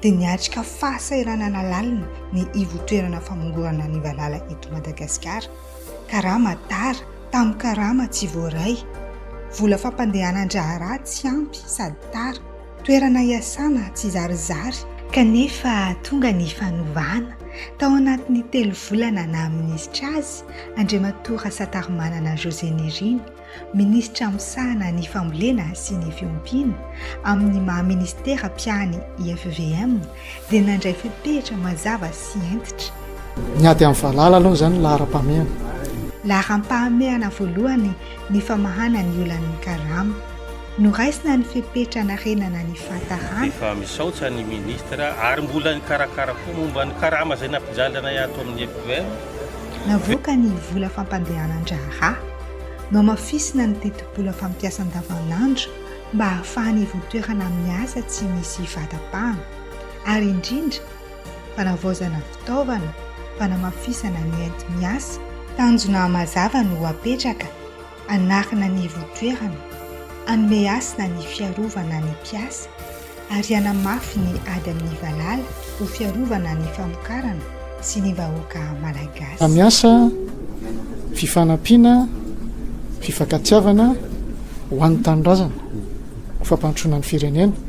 dia niatrika fahasahiranana lalina ny ivontoerana famongorana ny valala eto Madagasikara. Karama tara, tamin'ny karama tsy voaray. Vola fampandehanan-draharaha tsy ampy sady tara. Toerana iasana tsy zarizary. Kanefa tonga ny fanovana. Tao anatin'ny telo volana naha minisitra azy, Andriamatoa Rasatarimanana José Nirina, Minisitra misahana ny fambolena sy ny fiompiana amin'ny maha Minisitera mpiahy ny IFVM dia nandray fepetra mazava sy hentitra. Ny ady amin'ny valala aloha izany laharam-pahamehana. Laharam-pahamehana voalohany ny famahana ny olan'ny karama. Noraisina ny fepetra hanarenana ny fahatarana. Efa misaotsa ny Minisitra ary mbola nikarakara koa momba ny karama izay nampijaly anay ato amin'ny IFVM. Navoaka ny vola fampandehanan-draharaha. Nohamafisina ny tetibola mpampiasa andavanandro mba hahafahan'ny ivon-toerana amin'ny asa tsy misy fahatampahana, ary indrindra, fanavaozana fitaovana, fanamafisana ny enti-miasa. Tanjona mazava no apetraka hanarina ny ivon-toerana, hanome hasina ny fiarovana ny mpiasa. ary hanamafy ny ady amin'ny valala ho fiarovana ny famokarana sy ny vahoaka Malagasy. Hamiasa fifanampiana, fifankatiavana ho an'ny tanindrazana, ho fampandrosoana ny firenena.